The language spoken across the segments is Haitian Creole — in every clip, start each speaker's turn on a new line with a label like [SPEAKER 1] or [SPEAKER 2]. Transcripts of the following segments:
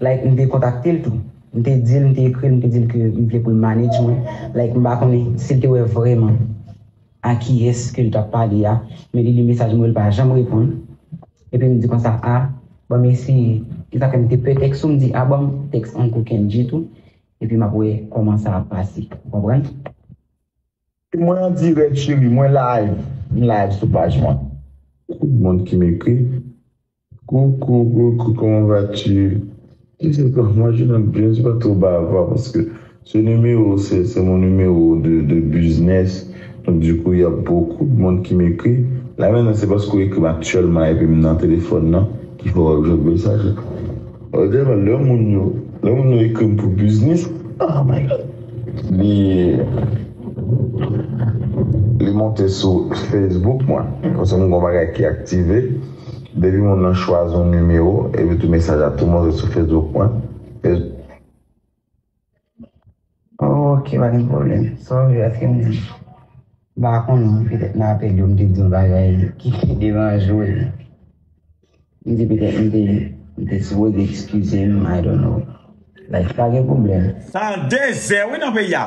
[SPEAKER 1] Like m te kontakte l tou. M te di l, m te ekri l, m te di l ke m vle pou l manage mwen. Like m pa konnen si l te wè vrèman a kiyès ke l t ap pale a, men li li mesaj mwen, li pa janm reponn. Epi m di konsa, a, bon m eseye. E sa fè m te pè tèks ou, m di a bon m tèks Uncle Kendjy tou, epi m ap wè kòman sa ap pase. Ou konprann? Se
[SPEAKER 2] mwen an dirèk cheri, mwen live, m live sou paj mwen. Tout moun ki m ekri, Coucou coucou comment vas tu Wi se pa mwen Journal James pa two bava paske se numéro se se mon numéro de de business donc du coup ya beaucoup de monde ki m'ekri la maintenant se paske ou ekrim actuellement epim nan téléphone nan ki fè wap jwenn mesaj la Bon dema lè moun yo lè moun yo ekrim pou business ah my God li li monte sou Facebook mwen paske m gon bagay ki active. Depi moun lan chwazi yon nimewo epi tou mesaj la tou monte sou Facebook mwen
[SPEAKER 1] e. Ok pa gen pwoblèm. Sorry paske m pa konnen petèt nan apèl yo m te di yon bagay ki te deranje w. M di petèt m te m te sipoze ekskize m I don't know. Like pa gen pwoblèm. Sa 2 zè
[SPEAKER 3] wi nan peyi a.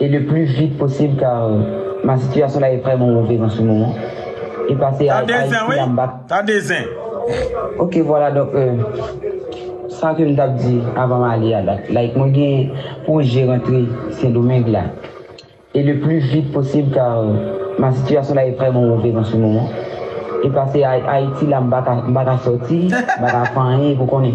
[SPEAKER 1] E le plus vite possible car ma situation là est vraiment mauvaise en ce moment e pase a Haïti là m pa k. Tande
[SPEAKER 3] zen wi. Ok
[SPEAKER 1] voilà donc euh sa ke m t ap di avan m ale a la like mwen gen pwoje rantre Sendomeng la e le plus vite possible car ma situation là est vraiment mauvaise en ce moment e pase a Haïti là m pa ka sòti m pa ka fè anyen pou konnen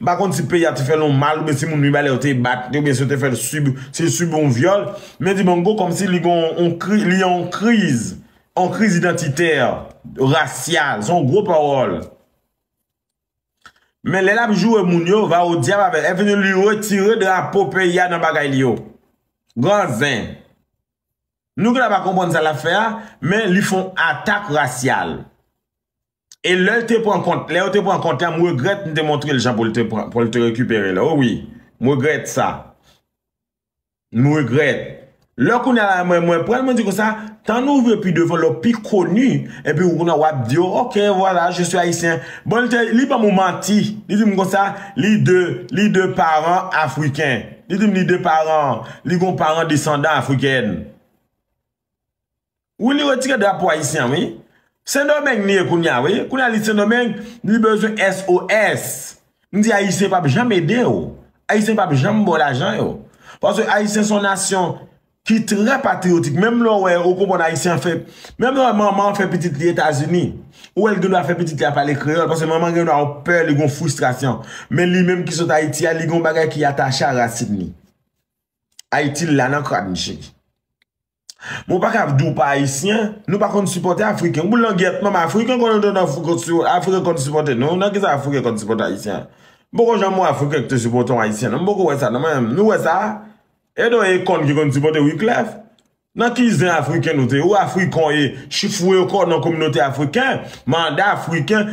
[SPEAKER 3] M pa konn si peyi a te fè l yon mal oubyen si moun li bay la yo te bat li oubyen si yo te fè l sibi, si l sibi yon vyòl, men Dibango kòmsi li gen yon kri, li yon kriz, yon kriz idantitè, rasyal, se yon gwo pawòl. Men lè l ap joure moun yo, va o dyab avè l, e fini li retire drapo peyi a nan bagay li yo. Gran zen. Nou ki la pa konprann sa l ap fè a, men li fon atak rasyal. E lè l te pran kont, lè yo te pran kont la, m regrèt m te montre l jan pou l te pran, pou l te rekipere l. O wi, m regrèt sa. M regrèt. Lè kounye a la mwen, mwen pran l, mwen di kon sa, tan n ouvri pi devan lè w pi koni, epi ou kounye a w ap di yo, ok, vwala, je suis Haïtien. Bon, li te, li ban m yon manti. Li di m kon sa, li de, li de paran afriken. Li di m li de paran, li gen yon paran desandan afrikèn. Wi li retire drapo ayisyen wi. Sendomeng li ye kounya wi. Kounya li sendomeng li bezwen SOS. M di ayisyen pap janm ede w. Ayisyen pap janm ba w lajan yo. Paske ayisyen son nasyon ki trè patriyotik. Menm lè w wè ou konprann ayisyen an fè. Menm lè w wè manman an fè pitit li etazini. Ou wè l gen dwa fè pitit li a pale kreyòl. Paske manman gen dwa yon pè li gen yon fristrasyon. Men li menm ki sot ayiti a li gen yon bagay ki atache a rasin li. Ayiti la nan krad m cheri. Mwen pa kab di w pa ayisyen, nou pa konn sipòte afriken. Pou langyèt manman afriken konn antre nan fou kont sou afriken konn sipòte nou. Nan kisa afriken konn sipòte ayisyen? M poko janm wè afriken ki te sipòte yon ayisyen non. M poko wè sa non mwen menm. Nou wè sa? E don e kòn ki konn sipòte Wiclef? Nan ki zen afriken nou te? Ou afriken ou ye? Chifouye kò nan kominote afriken? Mande afriken?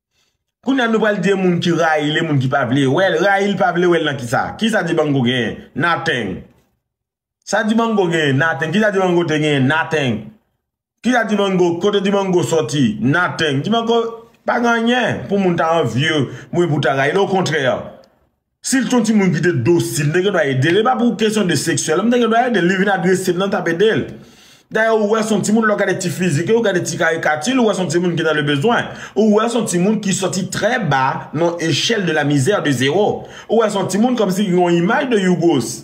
[SPEAKER 3] Kounya nou pral di e moun ki rayil e moun ki pa vle wèl rayil pa vle wèl nan kisa kisa dibango genyen nothing sa dibango genyen nothing kisa dibango te genyen nothing kisa dibango kote dibango soti nothing dibango pa gen anyen pou moun ta anvye mwen pou ta rayil okontrè Si l t yon timoun ki te dosil, m te gendwa ede l. E pa pou kesyon de seksyèl, m te gendwa ede l. Li vin agrese m nan, m t ap ede l. Dayè ou wè s on timoun, lè w gade ti fizik li, ou gade ti karikati li, ou wè s on timoun ki nan le bezwen. Ou wè s on timoun ki sòti trè ba nan echèl de la misère de zéro. Ou wè s on timoun kòmsi ki gen yon imaj de Yougos.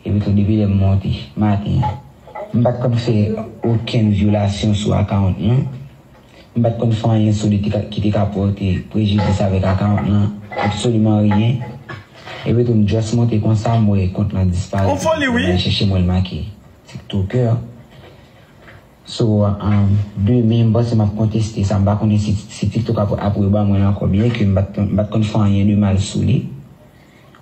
[SPEAKER 1] Epitou depi lè m monte maten an, m pa t konn fè okenn vyolasyon sou akawont mwen. M pa t konn fè anyen sou li ki te ka pòte prejidis avèk akawont lan, absoliman ryen. Epitou m just monte konsa m wè kont lan disparèt epi m ale chèche
[SPEAKER 3] m wè l make
[SPEAKER 1] Tiktoker. So, demen m panse m ap konteste sa. M pa konnen si Tiktok ap reban mwen l ankò byenke m pa t konn fè anyen de mal sou li.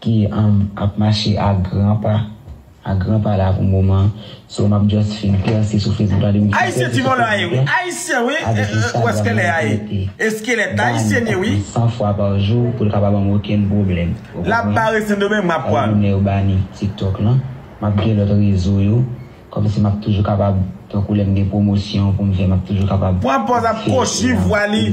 [SPEAKER 1] ki ap mache a gran pa a gran pa la pou moman so map just fin pèse sou Facebook la depi m fin pèse sou Facebook la avèk
[SPEAKER 3] Instagram la map mete Dany ap vin 100 fwa pa jou pou l
[SPEAKER 1] ka pa banm okenn pwoblèm ou konprann
[SPEAKER 3] map gen nimewo Dany
[SPEAKER 1] TikTok lan map gen lòt rezo yo kòmsi map toujou kapab tankou lèm
[SPEAKER 3] gen
[SPEAKER 1] pwomosyon pou m
[SPEAKER 3] fè
[SPEAKER 1] map toujou kapab fè epi.